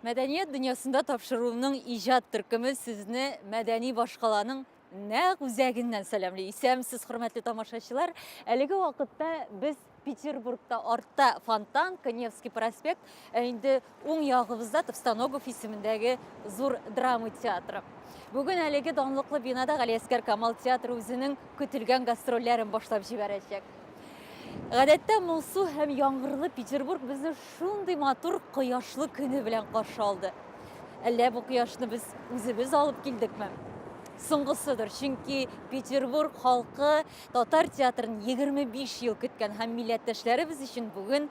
Мәдәният дөньясында тапшыруның иҗат төркеме сезне мәдәни башкаланың нәкъ үзәгеннән сәламли. Исәмсез, хөрмәтле тамашачылар. Әлеге вакытта без Петербургта артта Фонтан, Коневский проспект, ә инде Уң ягыбызда Товстоногов исемендәге зур драма театры. Бүген әлеге данлыклы бинада Галиәскәр Камал театры үзенең көтелгән гастрольләрен башлап җибәрәчәк. Гадәттә моңсу һәм яңгырлы Петербург безне шундый матур кояшлы көне белән каршы алды. Әллә бу кояшны без үзебез алып килдекме? Соңгысыдыр, чөнки Петербург халкы татар театрын 25 ел көткән һәм милләттәшләребез өчен бүген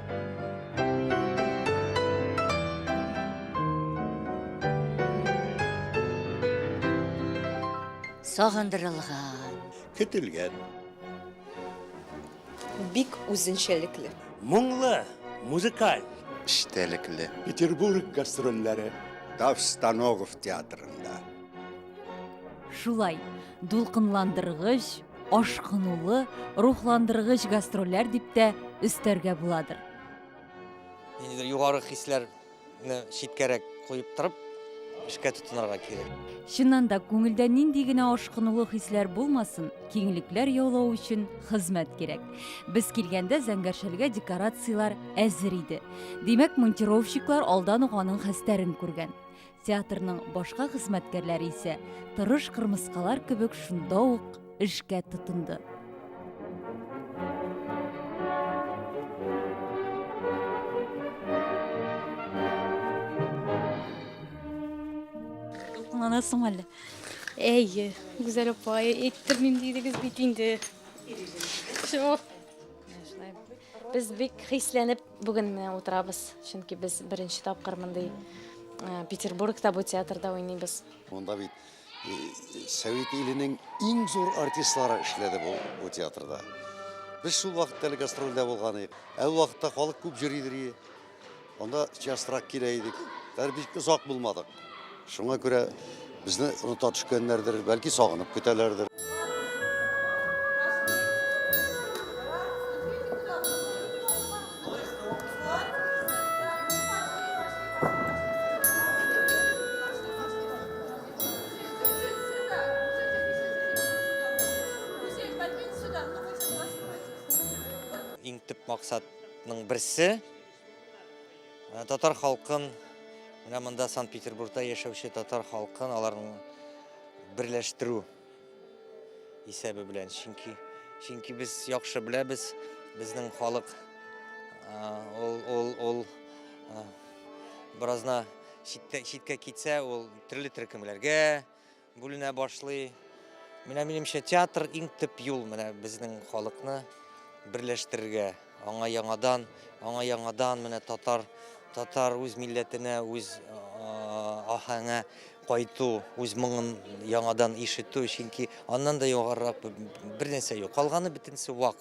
Сагындырылган. Көтелгән. Бик үзенчәлекле. Моңлы, музыкаль. Эчтәлекле. Петербург гастрольләре. Таш Станогов театрында. Шулай, дулкынландыргыч, ашкынулы, рухландыргыч гастрольләр дип тә өстәргә буладыр. Ниндидер югары хисләрне читкәрәк куеп торып, эшкә тотынырга кирәк. Чыннан да күңелдә нинди генә ашкынулы хисләр булмасын, киңлекләр яулау өчен хезмәт кирәк. Без килгәндә Зәңгәршәлгә декорацияләр әзер иде. Димәк, монтировщиклар алдан ук аның хәстәрен күргән. Театрның башка хезмәткәрләре исә тырыш кырмыскалар кебек шунда ук эшкә тотынды. Кулланасың әле. Әйе, Гүзәл апа, әйттермим дидегез бит инде. Шо. Без бик хисләнеп бүген менә утырабыз, чөнки без беренче тапкыр мондый э, Петербургта бу театрда уйныйбыз. Монда бит э, Совет иленең иң зур артистлары эшләде бу, бу театрда. Без шул вакытта әле гастрольдә булган идек. Ә ул вакытта халык күп йөридер. Анда частрак килә идек. Бер бик озак булмадык. Шуңа күрә безне оныта төшкәннәрдер, бәлки сагынып көтәләрдер. Иң төп максат Ның берсе э, татар халкын менә монда Санкт-Петербургта яшәүче татар халкын аларның берләштерү исәбе белән. Чөнки чөнки без яхшы беләбез, безнең халык ул ул ул беразна читкә читкә китсә, ул төрле төркемләргә Бүленә башлый. Менә минемчә театр иң төп юл менә безнең халыкны берләштерергә. Аңа яңадан, аңа яңадан менә татар татар үз милләтенә, үз ахаңа кайту, үз моңын яңадан ишетү, чөнки аннан да югарырак бер нәрсә юк. Калганы бөтенесе вак.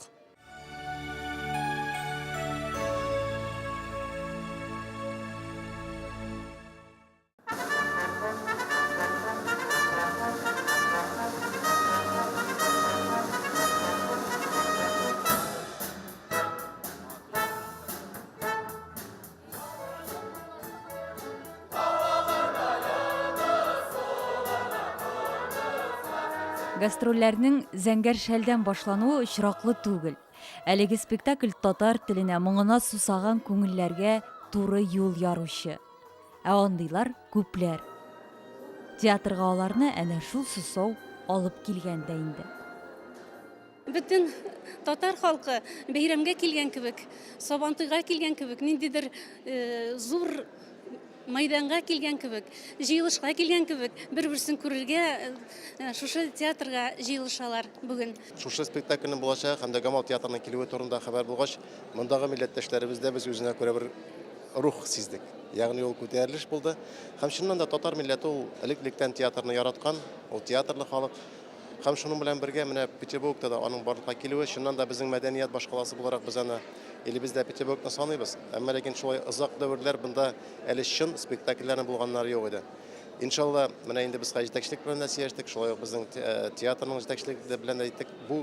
Гастрольләрнең зәңгәр шәлдән башлануы очраклы түгел. Әлеге спектакль татар теленә, моңына сусаган күңелләргә туры юл яручы. Ә андыйлар күпләр. Театрга аларны әнә шул сусау алып килгән дә инде. Бөтен татар халкы бәйрәмгә килгән кебек, Сабантуйга килгән кебек, ниндидер э, зур майданга килгән кебек, җыелышка килгән кебек, бер-берсен күрергә э, шушы театрга җыелышалар бүген. Шушы спектакльнең булачагы һәм дә Гамал театрының килүе турында хәбәр булгач, мондагы милләттәшләребез дә без үзенә күрә бер рух сиздек. Ягъни ул күтәрелеш булды. Һәм чыннан да татар милләте ул элек-электән театрны яраткан, ул театрлы халык. Һәм шуның белән бергә менә Петербургта да аның барлыкка килүе, чыннан да безнең мәдәният башкаласы буларак без аны илебездә Петербургны саныйбыз. Әмма ләкин шулай озак дәверләр бында әле чын спектакльләрне булганнары юк иде. Иншалла, менә инде без хәзер җитәкчелек белән дә сөйләштек, шулай ук безнең э, театрның җитәкчелеге белән дә әйттек. Бу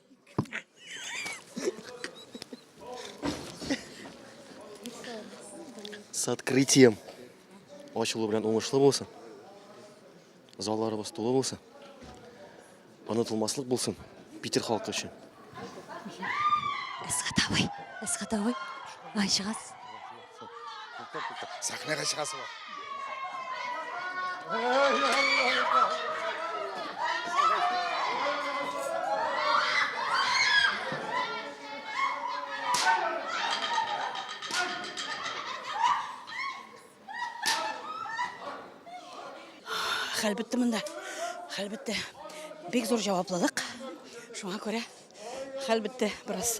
С открытием. Ачылу белән уңышлы булсын. Залларыбыз тулы булсын. Онытылмаслык булсын Питер халкы өчен. Эсхатовый, Эсхатовый. Ай, чыгасыз. Сәхнәгә чыгасы бар. Хәл бетте монда. Хәл бетте. Бик зур җаваплылык. Шуңа күрә хәл бетте бераз.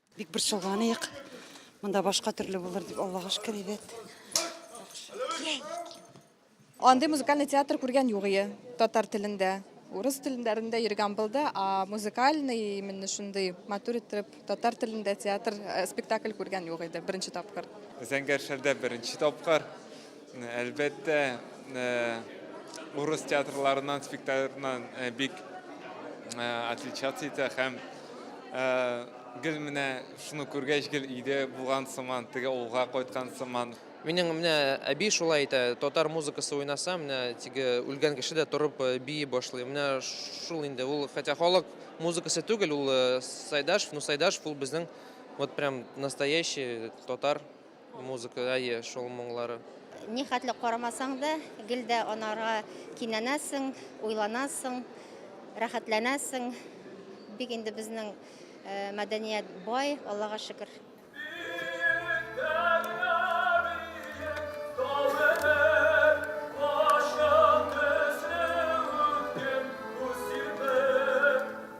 Бик борчылганыек. Монда башка төрле булыр дип Аллага шөкер әйбәт. Андый музыкальный театр күргән юк ие татар телендә. Урыс телендәрендә йөргән булды, а музыкальный именно шундый матур итеп татар телендә театр э, спектакль күргән юк иде беренче тапкыр. Зәңгәршәрдә беренче тапкыр. Әлбәттә, урыс театрларыннан, спектакльларыннан бик отличаться итә һәм гел менә шуны күргәч гел өйдә булган сыман, теге авылга кайткан сыман. Минем менә әби шулай әйтә, татар музыкасы уйнаса, менә теге үлгән кеше дә торып э, бии башлый. Менә шул инде ул, хотя халык музыкасы түгел, ул э, Сайдашев, ну Сайдашев ул безнең вот прям настоящий татар Музыка, әйе, шул моңлары. Ни хәтле карамасаң да, гел дә анарга кинәнәсең, уйланасың, рәхәтләнәсең. Бик инде безнең э, мәдәният бай, Аллага шөкер.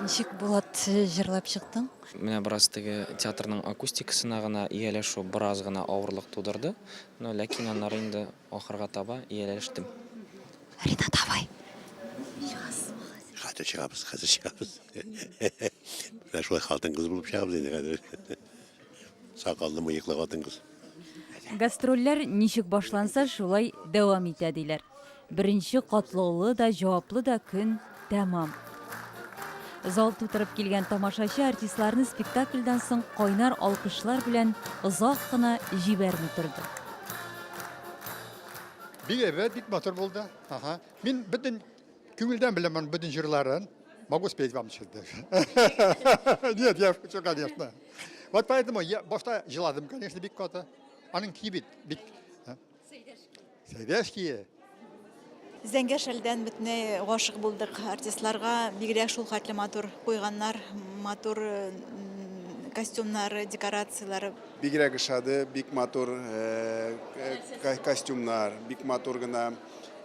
Ничек Булат җырлап чыктың? Менә бераз теге театрның акустикасына гына ияләшү бераз гына авырлык тудырды, но ләкин аннары инде ахырга таба ияләштем. Рина, давай. Хәтер чыгабыз, хәзер чыгабыз. Менә шулай хатын кыз булып чыгабыз инде хәзер. Сакаллы мыеклы хатын-кыз. Гастрольләр ничек башланса, шулай дәвам итә, диләр. Беренче катлаулы да, җаваплы да көн тәмам. Зал тутырып килгән тамашачы артистларны спектакльдан соң кайнар алкышлар белән озак кына җибәрми торды. Бик әйбәт, бик матур булды. Ага. Мин бөтен Күңелдән беләм аның бөтен җырларын. Могу спеть вам сейчас даже. Нет, я шучу, конечно. Вот поэтому я башта җыладым, конечно, бик каты. Аның ки бит, бик... Сәйдәш кие. Зәңгәр шәлдән бөтенләй гашык булдык. Артистларга бигрәк шул хәтле матур куйганнар, матур костюмнары, декорацияләре. Бигрәк ошады, бик матур костюмнар, бик матур гына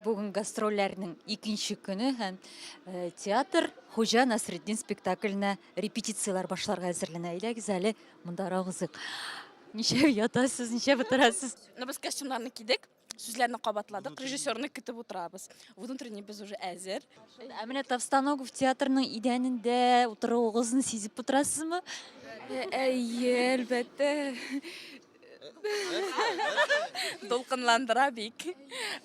Бүген гастрольләрнең икенче көне һәм э, театр Хуҗа Насреддин спектакленә репетицияләр башларга әзерләнә. Әйдәгез әле монда рагызык. Ничә ятасыз, ничә бутырасыз? Ну, без костюмнарны кидек, сүзләрне кабатладык, режиссерны көтеп утырабыз. Внутренний без уже әзер. Ә менә Тавстаногов театрының идәнендә утыруыгызны сизеп утырасызмы? Әйе, әлбәттә. Дулкынландыра бик.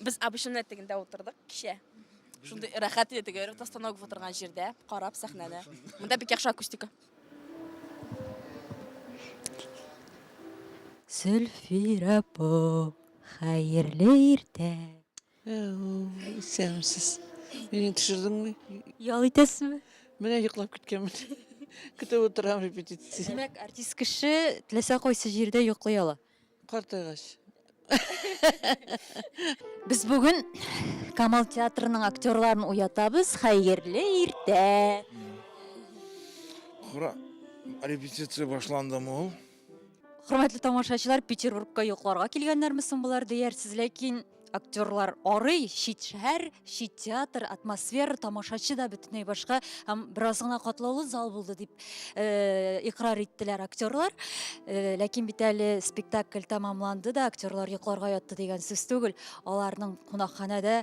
Без Абышын этегендә утырдык кичә. Шундый рәхәт иде теге постановка утырган җирдә, карап сәхнәне. Монда бик яхшы акустика. Зөлфирә апа, хәерле иртә! Исәнмесез. Мине төшердеңме? Ял итәсезме? Менә йоклап киткәнмен. Көтеп утырам репетиция. Димәк, артист кеше теләсә кайсы җирдә йоклый ала. Картайгач. Без бүген Камал театрының актерларын уятабыз. Хәерле иртә. Кара, репетиция башландымы ул? Хөрмәтле тамашачылар, Петербургка йокларга килгәннәрме соң болар диярсез, ләкин актерлар арый, чит шәһәр, чит театр, атмосфера, тамашачы да бөтенләй башка һәм бераз гына катлаулы зал булды дип э, икрар иттеләр актерлар. Э, ләкин бит әле спектакль тәмамланды да, актерлар йокларга ятты дигән сүз түгел. Аларның кунакханәдә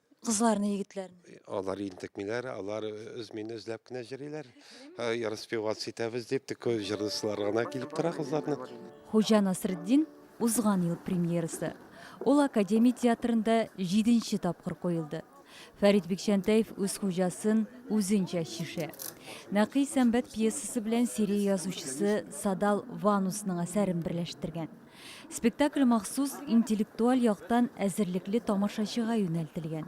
Кызларны, егетләрне. Алар интекмиләр, алар үз мине үзләп кенә җырлыйлар. Распеваться итәбез дип, тик җырлыйсылар гына килеп тора кызларны. Хуҗа Насретдин узган ел премьерасы. Ул Академия театрында җиденче тапкыр куелды. Фәрит Бикчәнтәев үз хуҗасын үзенчә чишә. Нәкый сәмбәт пьесасы белән Сирия язучысы Садал Ванусның әсәрен берләштергән. Спектакль махсус интеллектуаль яктан әзерлекле тамашачыга юнәлтелгән.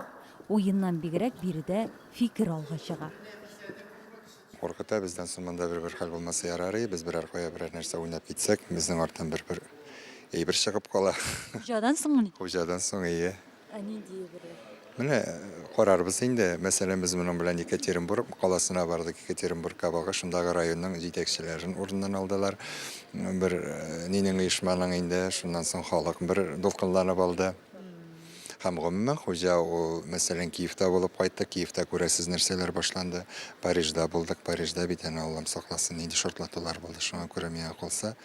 Уеннан бигрәк биредә фикер алга чыга. Куркыта бездән соң монда бер-бер хәл булмаса ярарый, без берәр кая берәр нәрсә уйнап китсәк, безнең арттан бер-бер әйбер чыгып кала. Хуҗадан соңмыни? Хуҗадан соң, ие. Ә нинди егерьләр? Менә карарбыз инде. Мәсәлән, без моның белән Екатеринбург каласына бардык. Екатеринбургка бага шундагы районның җитәкчеләрен урыннан алдылар. Бер нинең оешманың инде, шуннан соң халык бер дулкынланып алды. Һәм гомумән хуҗа ул, мәсәлән, Киевта булып кайттык, Киевта күрәсез нәрсәләр башланды. Парижда булдык, Парижда бит әнә Аллам сакласын, нинди шартлатулар булды, шуңа күрә миңа калса,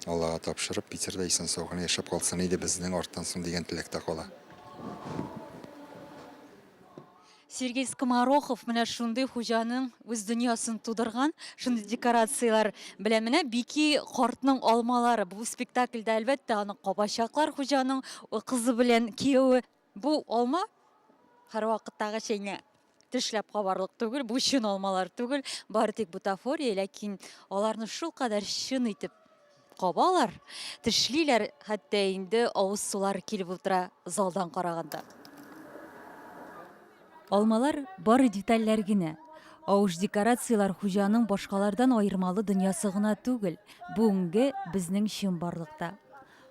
Аллага тапшырып, Питерда исән-сау гына яшәп калсын иде безнең арттан соң дигән теләк тә кала. Сергей Скоморохов менә шундый хуҗаның үз дөньясын тудырган, шундый декорацияләр белән менә Бики картның алмалары. Бу спектакльдә әлбәттә аны кабачаклар хуҗаның кызы белән кияве Бу алма һәрвакыттагы чәйне тешләп кабарлык түгел, бу чын алмалар түгел, бары тик бутафория, ләкин аларны шул кадәр чын итеп кабалар, тешлиләр, хәтта инде авыз сулар килеп утыра залдан караганда. Алмалар бары детальләр генә. Авыш декорацияләр хуҗаның башкалардан аермалы дөньясы гына түгел, бүгенге безнең чын барлыкта.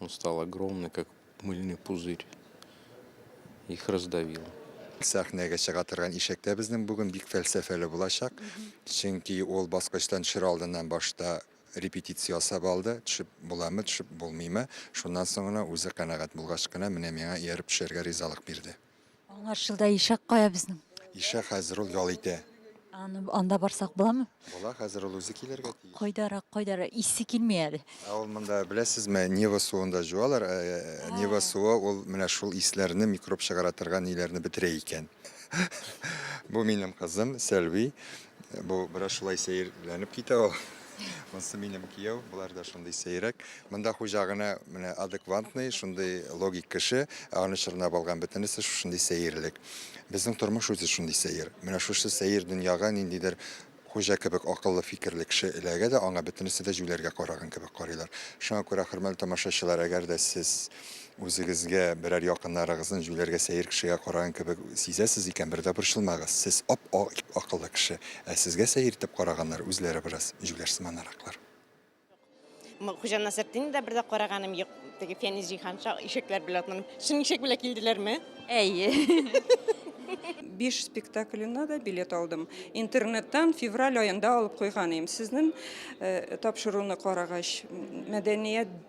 он стал огромный как мыльный пузырь их раздавил Сәхнәгә чыга торган ишәк тә безнең бүген бик фәлсәфәле булачак. Чөнки ул баскычтан төшер алдыннан башта репетиция ясап алды, төшеп буламы, төшеп булмыймы. Шуннан соң гына үзе канәгать булгач кына менә миңа ияреп төшәргә ризалык бирде. Аңарчыл да ишәк кая безнең? Ишәк хәзер ул ял итә. Аны анда барсак буламы? Була, хәзер ул үзе килергә тиеш. Кайдарак, кайдарак, исе килми әле. Ә ул монда беләсезме, Нева суында җуалар. Ә, ә, ә Нева суы ул менә шул исләрне, микроб чыгара торган ниләрне бетерә икән. Бу минем кызым Сәлви. Бу бераз шулай сәерләнеп китә ул. Монсы минем кияү, болар да шундый сәйрәк. Монда хуҗа гына менә адекватный, шундый логик кеше, ә аны чорнап алган бөтенесе шушындый сәерлек. Безнең тормыш үзе шундый сәер. Менә шушы сәер дөньяга ниндидер хуҗа кебек акыллы фикерле кеше эләгә дә, аңа бөтенесе дә җүләргә караган кебек карыйлар. Шуңа күрә, хөрмәтле тамашачылар, әгәр дә сез Үзегезгә, берәр якыннарыгызны җүләргә сәер кешегә караган кебек сизәсез икән, бер дә борчылмагыз, сез ап-ак акыллы кеше, ә сезгә сәер итеп караганнар, үзләре бераз җүләр сыманараклар. Юк, Хуҗа Насретдинны да бер дә караганым юк, теге Фәнис җиһанша ишәкләр белән атланып, чын ишәк белән килделәрме? Әйе. Биш спектакленә дә билет алдым. Интернеттан февраль аенда алып куйган идем. Сезнең тапшыруны карагач, мәдәният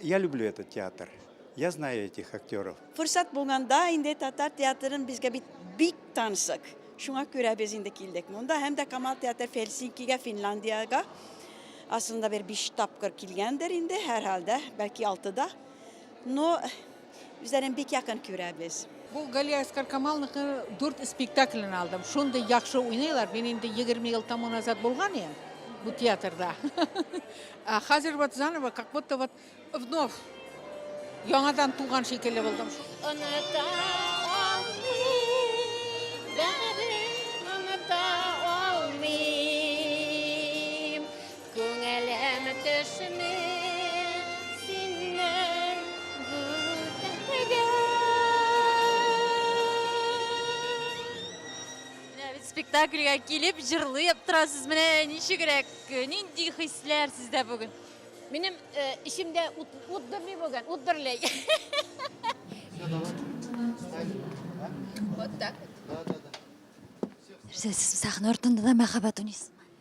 Я люблю этот театр. Я знаю этих актеров. Фурсат булганда инде татар театрын безгә бит бик тансык. Шуңа күрә без инде килдек монда һәм дә Камал театры Хельсинкига, Финляндиягә асында бер биш тапкыр килгәндер инде, һәрхәлдә, бәлки алтыда. Но Үзләрен бик якын күрәбез. Бу Галия Әскар Камалныкы дүрт спектаклен алдым. Шундый яхшы уйныйлар. Мин инде 20 ел тому назад булган идем бу театрда. А хәзер вот заново, как будто вот вновь яңадан туган шикелле булдым. Оныта алмыйм, бәрен оныта алмыйм. Күңелем төшми синнән гүзәлгә. Менә бит спектакльгә килеп җырлыйп торасыз. Менә ничегрәк, нинди хисләр сездә бүген? Минем э, эчемдә ут, ут дөрлей бүген, ут дөрлей. Вот так вот. Нәрсә, сез сәхнә артында да мәхәббәт уйныйсыз?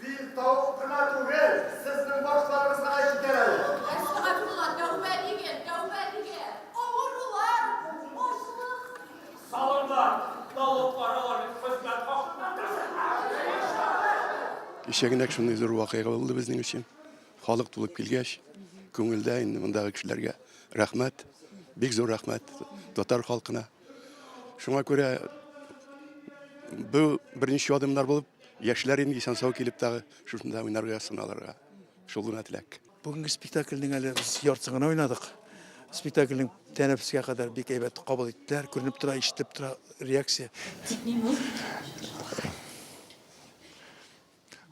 Бик тавык кына түгел, сезнең башларыгызга да җитәр әле. Әстәгъфирулла, тәүбә дигез, тәүбә дигез. Авырулар, ачлык. Салымнар, налог параларның хезмәт хакыннан ташынмагыз. Кичә генә шундый зур вакыйга булды безнең өчен. Халык тулып килгәч, күңелдә инде мондагы кешеләргә рәхмәт, бик зур рәхмәт татар халкына. Шуңа күрә бу беренче адымнар булып Яшьләр инде исән-сау килеп тагы шушында уйнарга, сыналырга. Шул гына теләк. Бүгенге спектакльнең әле без яртысын гына уйнадык. Спектакльнең тәнәфескә кадәр бик әйбәт кабул иттеләр. Күренеп тора, ишетелеп тора реакция.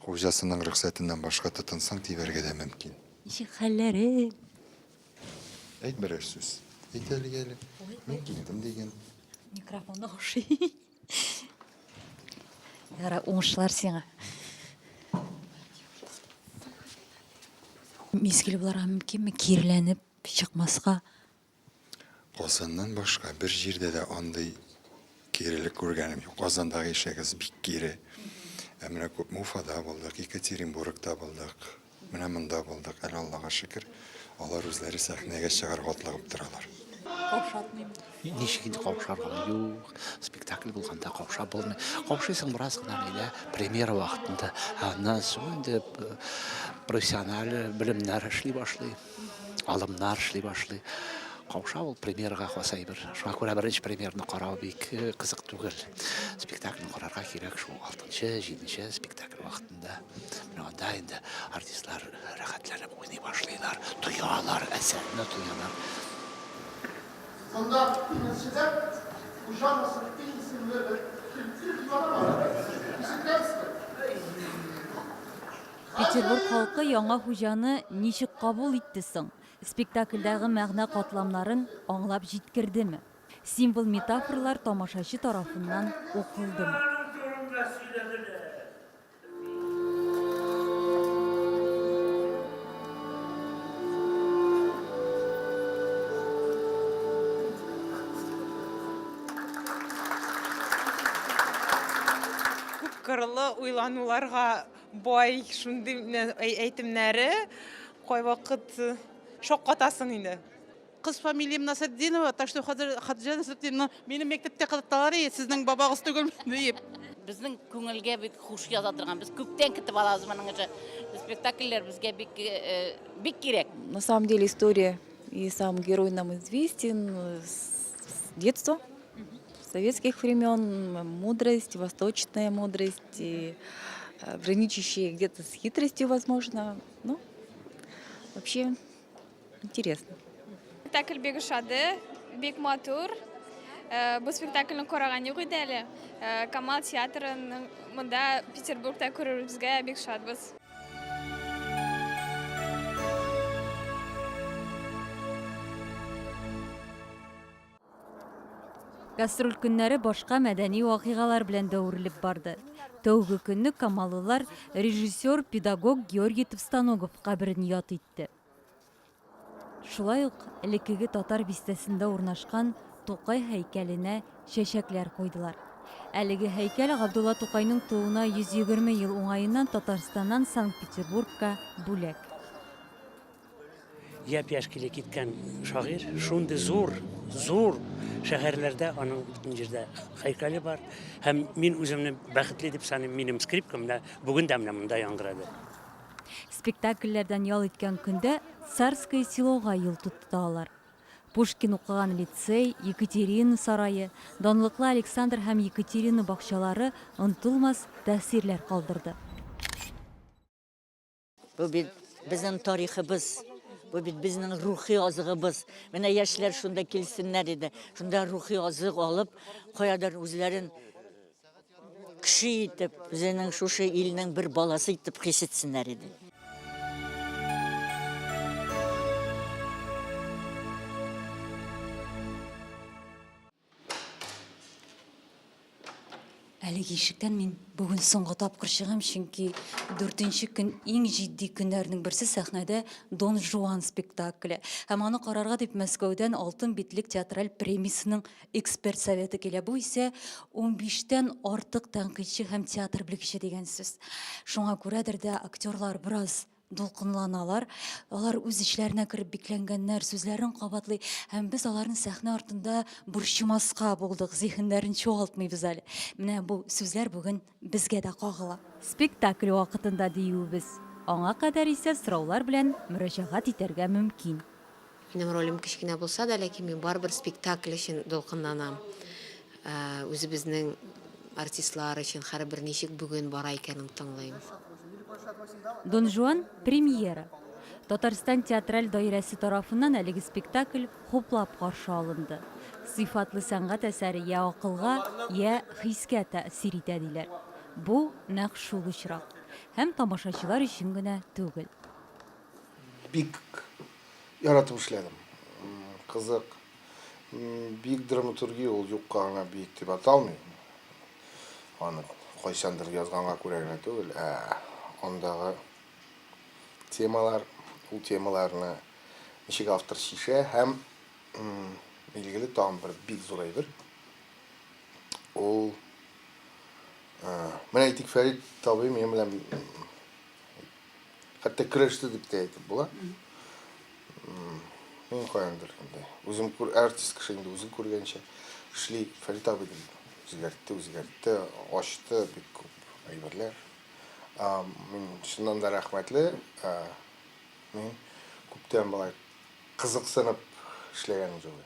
Хуҗасының рөхсәтеннән башка тотынсаң, тибәргә дә мөмкин. Ничек хәлләрең? Әйт берәр сүз. Әйт әлегә әле. Мин килдем диген. Микрофон ошый. Ярай, уңышлар сиңа. Мизгел буларга мөмкинме кирләнеп чыкмаска? Казаннан башка бер җирдә дә андый кирелек күргәнем юк. Казандагы ишегез бик кире. Ә менә күпме Уфада булдык, Екатеринбургта булдык. Менә монда булдык, әле Аллага шөкер. Алар үзләре сәхнәгә чыгарга атлыгып торалар. Каушатмыйм. Ничек инде каушарга? Юк, спектакль булганда кауша булмый. Каушыйсың бераз гына генә премьера вакытында. Аннан соң инде э, профессиональ белемнәр эшли башлый, алымнар эшли башлый. Кауша ул премьерага хас әйбер. Шуңа күрә беренче премьерны карау бик э, кызык түгел. Спектакльне карарга кирәк шул 6-7 спектакль вакытында. Монда менә анда инде артистлар рәхәтләнеп уйный башлыйлар, тоялар, әсәрне тоялар. Монда Тимерчедә Хуҗа Насретдин исемле бер төрки дивана бар иде. Ишеткәнсездер? Петербург халкы яңа хуҗаны ничек кабул итте соң? Спектакльдәге мәгънә катламнарын аңлап җиткердеме? Символ метафорлар тамашачы тарафыннан укылдымы? кырлы уйлануларга бай шундый әйтемнәре кайвакыт шаккатасың инде Кыз фамилиям Насретдинова, так что хәзер Хадиҗә Насретдинова минем мәктәптә кызыктылар, и сезнең бабагыз түгел диеп. Безнең күңелгә бик хуш яза торган. Без күптән китеп алабыз моның өчен. Спектакльләр безгә бик бик кирәк. На самом деле история и сам герой нам известен с детства, с советских времен. Мудрость, восточная мудрость, и граничащая где-то с хитростью, возможно. Ну, вообще Интересно. Спектакль бик ошады, бик матур. Э, бу спектакльне караган юк иде әле. Э, Камал театрын монда Петербургда күрүебезгә бик шатбыз. Гастроль көннәре башка мәдәни вакыйгалар белән дә үрелеп барды. Тәүге көнне камалылар режиссер, педагог Георгий Товстоногов каберен яд итте. Шулай ук элеккеге татар бистәсендә урнашкан Тукай һәйкәленә чәчәкләр куйдылар. Әлеге һәйкәл Габдулла Тукайның тууына 120 ел уңаеннан Татарстаннан Санкт-Петербургка бүләк. Япь-яшь киле киткән шагыйрь, шундый зур, зур шәһәрләрдә аның бөтен җирдә һәйкәле бар. Һәм мин үземне бәхетле дип саныйм, минем скрипкам менә бүген дә менә монда яңгырады. Спектакльләрдән ял иткән көндә Царское селога юл тотты алар. Пушкин укыган лицей, Екатерина сарае, данлыклы Александр һәм Екатерина бакчалары онытылмас тәэсирләр калдырды. Бу бит безнең тарихыбыз. Бу бит безнең рухи азыгыбыз. Менә яшьләр шунда килсеннәр иде. Шунда рухи азык алып, каядыр үзләрен кеше итеп, үзенең шушы илнең бер баласы итеп хис итсеннәр иде. Әлеге ишектән мин бүген соңгы тапкыр чыгам, чөнки 4нче көн иң җитди көннәрнең берсе сәхнәдә Дон Жуан спектакле. Һәм аны карарга дип Мәскәүдән Алтын битлек театраль премиясенең эксперт советы килә. Бу исә 15тән артык тәнкыйтьче һәм театр белгече дигән сүз. Шуңа күрәдер дә актерлар бераз дулкынланалар алар үз эчләренә кереп бикләнгәннәр сүзләрен кабатлый һәм без аларны сәхнә артында борчымаска булдык зиһеннәрен чуалтмыйбыз әле менә бу сүзләр бүген безгә дә кагыла спектакль вакытында диюебез аңа кадәр исә сораулар белән мөрәҗәгать итәргә мөмкин. Минем ролем кечкенә булса да, ләкин мин барыбер спектакль өчен дулкынланам. Ә, Үзебезнең артистлар өчен һәрбер ничек бүген бара икәнен тыңлыйм. Дон Жуан, премьера. Татарстан театраль даирәсе тарафыннан әлеге спектакль хуплап каршы алынды. Сыйфатлы сәнгать әсәре йә акылга, йә хискә тәэсир итә, диләр. Бу, нәкъ шул очрак. Һәм тамашачылар өчен генә түгел. Бик яратып эшләдем. Кызык. Бик драматургия ул юкка гына бик дип аталмый. Аны кайчандыр язганга күрә генә түгел, ә андагы темалар, ул темаларны ничек автор чишә һәм билгеле тагын бер бик зур әйбер. Ул менә әйтик Фәрит табый минем белән Хәтта көрәште дип тә әйтеп була. Мин каяндыр инде. Үзем күр артист кеше инде үзен күргәнчә эшли Фәрит абый да үзгәртте, үзгәртте, ачты бик күп әйберләр. Мин чыннан да рәхмәтле. Мин күптән былай Кызыксынып эшләгәнең җылы.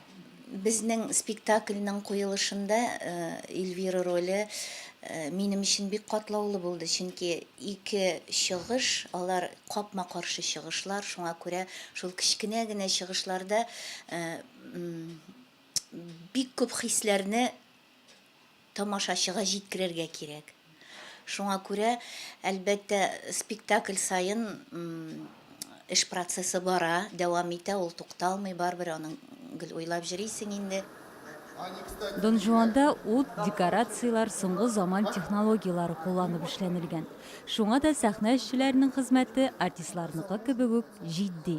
Безнең спектакльнең куелышында Эльвира роле минем өчен бик катлаулы булды, чөнки ике чыгыш, алар капма-каршы чыгышлар, шуңа күрә шул кечкенә генә чыгышларда бик күп хисләрне тамашачыга җиткерергә кирәк. Шуңа күрә, әлбәттә, спектакль саен эш процессы бара, дәвам итә, ул тукталмый, барыбер аның гел уйлап җөрисең инде. Дон Жуанда ут, декорацияләр соңгы заман технологияләре кулланып эшләнелгән. Шуңа да сәхнә эшчеләренең хезмәте артистларныкы кебек үк җитди.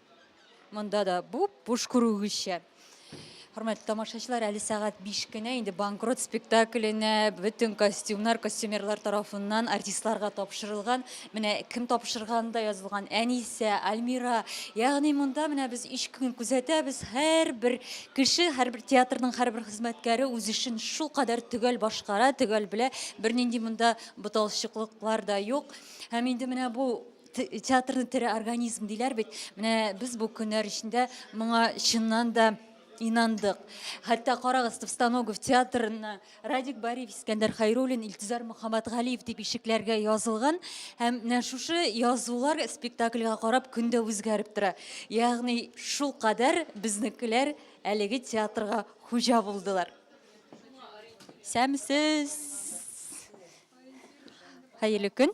Монда да бу буш күрүгезчә. Хөрмәтле тамашачылар, әле сәгать 5 кенә инде банкрот спектакленә бөтен костюмнар костюмерлар тарафыннан артистларга тапшырылган. Менә кем тапшырганы да язылган. Әнисә, Альмира. Ягъни монда менә без 3 көн күзәтәбез. Һәрбер кеше, һәрбер театрның һәрбер хезмәткәре үз эшен шул кадәр төгәл башкара, төгәл белә. Бернинди монда буталчыклыклар да юк. Һәм инде менә бу Театрны тере организм диләр бит. Менә без бу көннәр эчендә моңа чыннан да инандык. Хәтта карагыз, Товстоногов театрына Радик Бариев, Искәндәр Хайруллин, Илтизар Мөхәммәтгалиев дип ишекләргә язылган һәм менә шушы язулар спектакльгә карап көн дә үзгәреп тора. Ягъни шул кадәр безнекеләр әлеге театрга хуҗа булдылар. Сәмсез. Хәерле көн.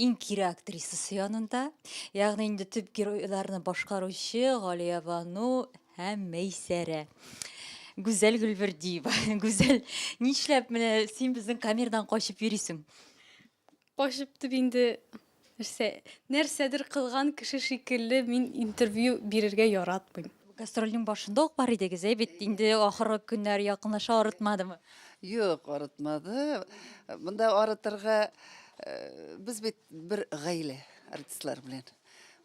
иң кире актрисасы янында. Ягъни инде төп геройларны башкаручы Галия Бану һәм Мәйсәрә. Гүзәл Гөлбердиева. Гүзәл, нишләп менә син безнең камердан качып йөрисең? Качып дип инде нәрсә, нәрсәдер кылган кеше шикелле мин интервью бирергә яратмыйм. Гастрольнең башында ук бар идегез, әй бит инде ахыргы көннәр якынлаша арытмадымы? Юк, арытмады. Монда арытырга э, без бит бер гаилә артистлар белән.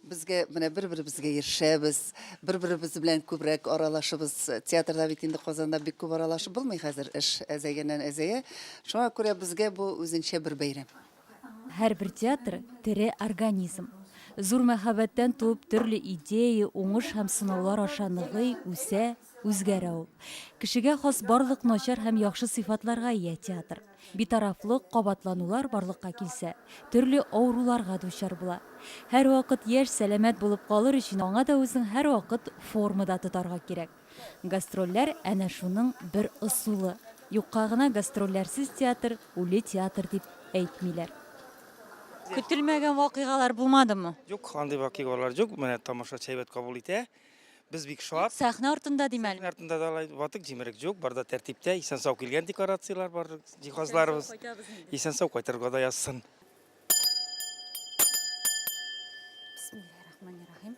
Безгә менә бер-беребезгә ирешәбез, бер-беребез белән күбрәк аралашыбыз. Театрда бит инде Казанда бик күп аралашып булмый хәзер, эш әзәйгәннән әзәя. Шуңа күрә безгә бу үзенчә бер бәйрәм. Һәрбер театр, тере организм. Зур мәхәббәттән туып төрле идея, уңыш һәм сынаулар аша ныгый, үсә, үзгәрә ул. Кешегә хас барлык начар һәм яхшы сыйфатларга ия театр. Битарафлык, кабатланулар барлыкка килсә, төрле авыруларга дучар була. Һәрвакыт яшь, сәламәт булып калыр өчен аңа да үзең һәрвакыт формада тотарга кирәк. Гастрольләр, әнә шуның бер ысулы. Юкка гына гастрольләрсез театр, үле театр дип әйтмиләр. Көтелмәгән вакыйгалар булмадымы? Юк, андый вакыйгалар юк. Менә тамашачы әйбәт кабул итә. Без бик шат. Сәхнә артында дим әле. Сәхнә артында да алай ватык җимерек юк, бар да тәртиптә. Исән-сау килгән декорацияләр бар, җиһазларыбыз. Исән-сау кайтырга да язсын. Бисмиллаһи рахмани рахим.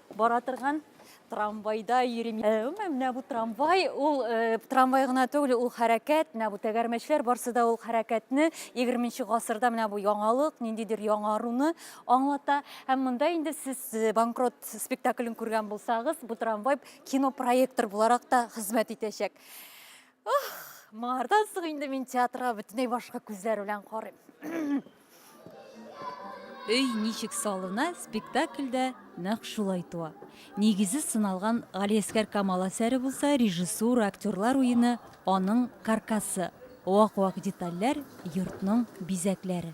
Бара торган трамвайда йөрим. Э, Гомумән, менә бу трамвай, ул э, трамвай гына түгел, ул хәрәкәт, менә бу тәгәрмәчләр барсы да ул хәрәкәтне 20 гасырда менә бу яңалык, ниндидер яңаруны аңлата. Һәм монда инде сез э, банкрот спектаклен күргән булсагыз, бу трамвай кинопроектор буларак та хезмәт итәчәк. Ох, моңардан соң инде мин театрга бөтенләй башка күзләр белән карыйм. Өй ничек салына спектакльдә нәкъ шулай туа. Нигезе сыналган Галиәскәр Камал әсәре булса, режиссура, актерлар уены, аның каркасы. Вак-вак детальләр, йортның бизәкләре.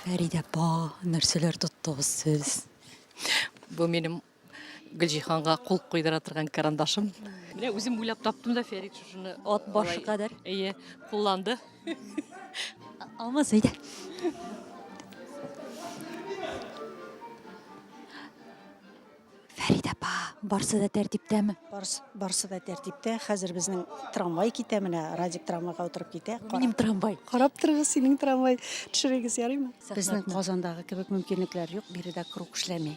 Фәридә апа, нәрсәләр тоттыгыз сез? Бу минем Гөлҗиһанга кул куйдыра торган карандашым. Менә үзем уйлап таптым да Фәрит шушыны. Ат башы кадәр. Әйе, кулланды. Алмаз әйдә. Фәрид апа, барсы да тәртиптәме? Барс, барсы да тәртиптә. Хәзер безнең трамвай китә менә, Радик трамвайга утырып китә. Минем трамвай. Карап торыгыз, синең трамвай. Төшерегез, ярыймы? Безнең Казандагы кебек мөмкинлекләр юк, биредә круг эшләми.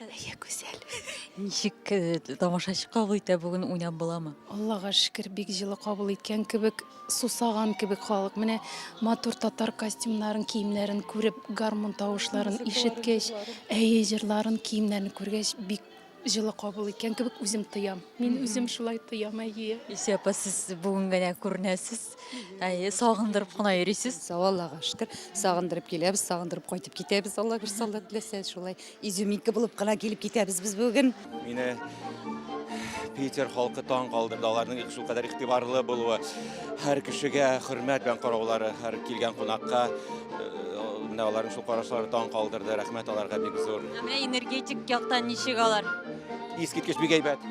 Әйе, гүзәл. Ничек э, тамашачы кабул итә бүген уйнап буламы? Аллага шөкер, бик җылы кабул иткән кебек, сусаган кебек халык. Менә матур татар костюмнарын, киемнәрен күреп, гармун тавышларын ишеткәч, әйе, җырларын, киемнәрен күргәч, бик Җылы кабул иткән кебек үзем тоям. Мин үзем шулай тоям, әйе. Исә апа, сез бүген генә күренәсез. Әйе, сагындырып кына йөрисез. Сау Аллага шөкер. Сагындырып киләбез, сагындырып кайтып китәбез. Алла бер саллы теләсә, шулай изюминка булып кына килеп китәбез без бүген. Мине Питер халкы таң калдырды, аларның шул кадәр игътибарлы булуы. Һәр кешегә хөрмәт белән караулары, һәр килгән кунакка менә аларның шул карашлары таң калдырды. Рәхмәт аларга бик зур. Менә энергетик яктан ничек алар? Искиткеч бик әйбәт.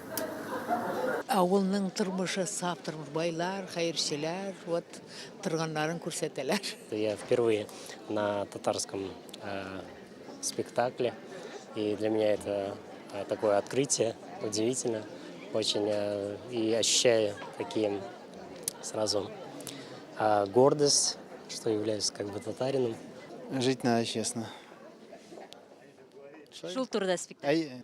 Авылның тормышы саф тормыш, байлар, хәерчеләр, вот торганнарын күрсәтәләр. Я впервые на татарском э, спектакле, и для меня это э, такое открытие, удивительно очень, э, и ощущаю такие сразу э, гордость, что являюсь как бы татарином. Жить надо честно. Шул турыда спектакль. Әй,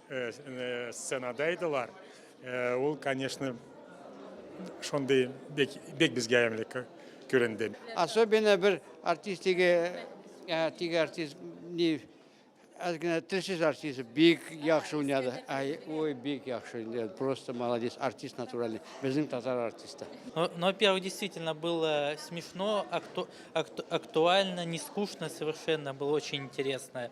сценада идылар. Ул, конечно, шундый бик бик безгә ямьле күренде. Особенно бер артист теге теге артист ни аз генә телсез артист бик яхшы уйнады. Ай, ой, бик яхшы уйнады. Просто молодец, артист натуральный. Безнең татар артисты. Но, но во-первых, действительно было смешно, акту, акту, актуально, не скучно совершенно, было очень интересно.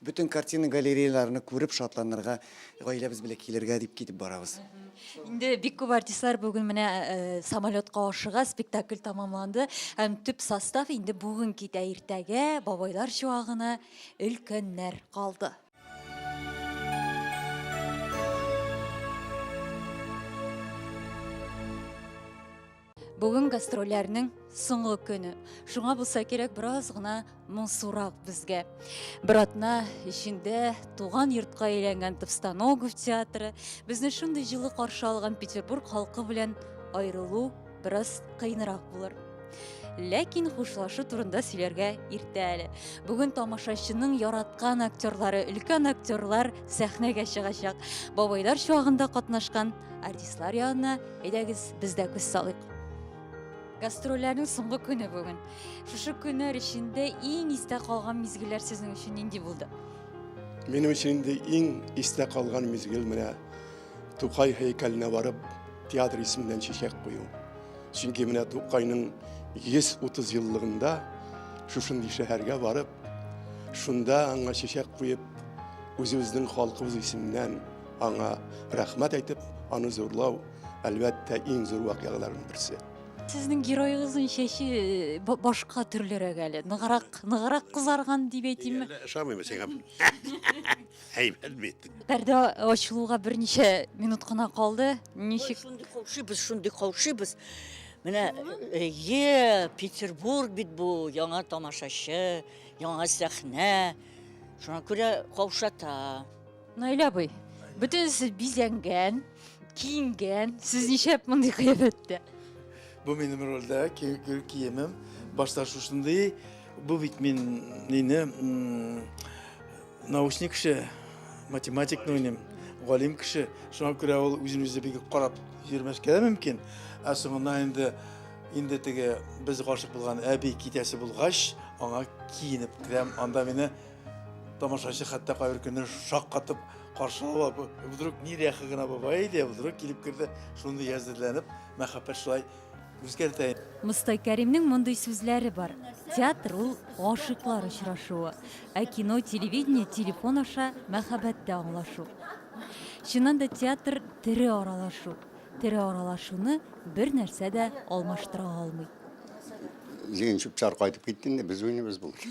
Бөтен картина галереяларны күреп шатланырга, гаиләбез белән килергә дип китеп барабыз. Инде бик күп артистлар бүген менә э, самолетка ашыга, спектакль тамамланды. Һәм төп состав инде бүген китә, иртәгә бабайлар чуагына өлкәннәр калды. Бүген гастрольләрнең соңгы көне. Шуңа булса кирәк бераз гына моңсурак безгә. Бер атна эчендә туган йортка әйләнгән Товстоногов театры, безне шундый җылы каршы алган Петербург халкы белән аерылу бераз кыенрак булыр. Ләкин хушлашу турында сөйләргә иртә әле. Бүген тамашачының яраткан актерлары, өлкән актерлар сәхнәгә чыгачак. Бабайлар чуагында катнашкан артистлар янына Әйдәгез, без дә күз салыйк. Гастрольләрнең соңгы көне бүген. Шушы көннәр эчендә иң истә калган мизгелләр сезнең өчен нинди булды? Минем өчен инде иң истә калган мизгел менә Тукай һәйкәленә барып, театр исеменнән чәчәк кую. Чөнки менә Тукайның 130 еллыгында шушындый шәһәргә барып, шунда аңа чәчәк куеп, үзебезнең халкыбыз исеменнән Аңа рәхмәт әйтеп, аны зурлау, әлбәттә, иң зур вакыйгаларның берсе. Сезнең героегызның чәче э, ба- башка төрлерәк әле. Ныграк, ныграк кызарган дип әйтимме? Әллә Ошамыймы сиңа? Әйбәт бит. Пәрдә ачылуга берничә минут кына калды. Ничек? Шундый каушыйбыз, шундый каушыйбыз. Менә э, Петербург бит бу, яңа тамашачы, яңа сәхнә. Шуңа күрә каушата. Наилә абый, бөтенесе бизәнгән, киенгән. Сез ничәп мондый кыяфәттә? Бу минем рольдә киемем. Башта шушындый, бу бит мин мине научник кеше, математик нуйним, галим кеше. Шуңа күрә ул үзен үзе бик карап йөрмәскә дә мөмкин. Ә соңыннан инде инде теге без гашык булган әби китәсе булгач, аңа киенеп керәм. Анда мине Тамашачы хәтта кайбер көнне шаккатып каршы ала. Вдруг нирәхи генә бабай иде, вдруг килеп керде, шундый әзерләнеп, мәхәббәт шулай үзгәртә. Мостай Кәримнең мондый сүзләре бар. Театр ул гашыйклар очрашуы, ә кино, телевидение, телефон аша мәхәббәттә аңлашу. Чыннан да театр тере аралашу. Тере аралашуны бер нәрсә дә алмаштыра алмый. Җыен чүп-чар кайтып китте инде, без уйныйбыз бүген.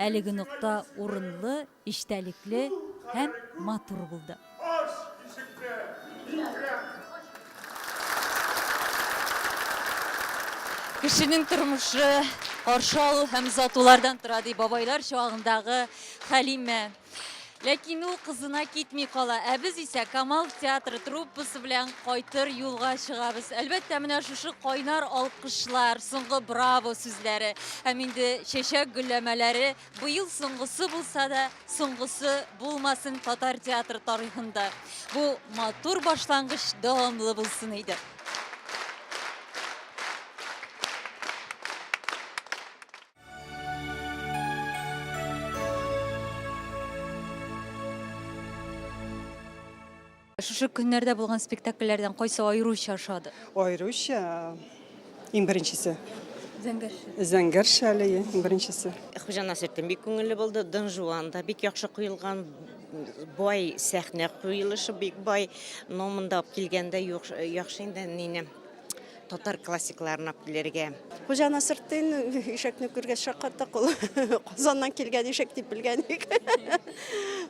Әлеге нокта урынлы, эчтәлекле һәм матур булды. Ач ишекне, Икрәм! Кешенең тормышы, каршы алу һәм озатулардан тора, ди бабайлар чагындагы Хәлимә. Ләкин ул кызына китми кала, ә без исә Камал театры труппасы белән кайтыр юлга чыгабыз. Әлбәттә, менә шушы кайнар алкышлар, соңгы браво сүзләре һәм инде чәчәк гөлләмәләре быел соңгысы булса да, соңгысы булмасын татар театры тарихында. Бу матур башлангыч дәвамлы булсын иде. Шушы көннәрдә булган спектакльләрдән кайсы аеруча ошады? Аеруча иң беренчесе. Зәңгәр шәле иң беренчесе. Хуҗа Насертдин бик күңелле булды. Дон Жуан да бик яхшы куелган. Бай сәхнә куелышы бик бай. Но монда килгәндә яхшы инде нине. татар классикларын алып килергә. Хуҗа Насыртдин ишәкне күргәч шаккаттык ул. Казаннан килгән ишәк дип белгән идек.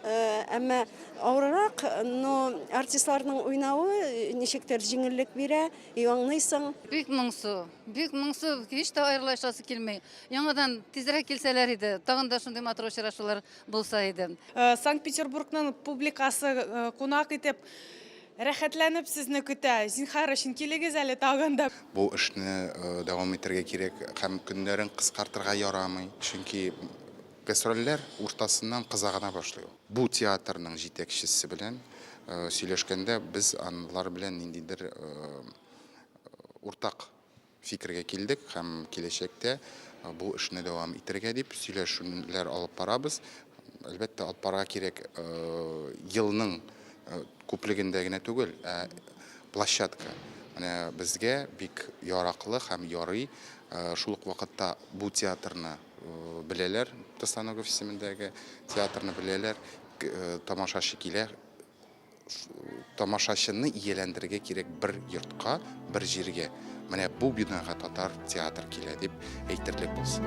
Э, әмма авыррак, но артистларның уйнавы ничектер җиңеллек бирә, и аңлыйсың. Бик моңсу, бик моңсу, һич тә аерылышасы килми. Яңадан тизрәк килсәләр иде, тагын да шундый матур очрашулар булса иде. Э, Санкт-Петербургның публикасы э, кунак итеп Рәхәтләнеп сезне көтә. Зинхар өчен килегез әле тагын да. Бу эшне дәвам итәргә кирәк һәм көннәрен кыскартырга ярамый, чөнки гастрольләр уртасыннан кыза гына башлый ул. Бу театрның җитәкчесе белән сөйләшкәндә без алар белән ниндидер уртак. Фикергә килдек һәм киләчәктә бу эшне дәвам итәргә дип сөйләшүләр алып барабыз. Әлбәттә, алып барырга кирәк елның күплегендә генә түгел, ә площадка менә безгә бик яраклы һәм ярый. Шул ук вакытта бу театрны беләләр, Тостаногов исемендәге театрны беләләр, тамашачы килә. тамашачыны ияләндерергә кирәк бер йортка, бер җиргә. Менә бу бинага татар театр килә дип әйтерлек булсын.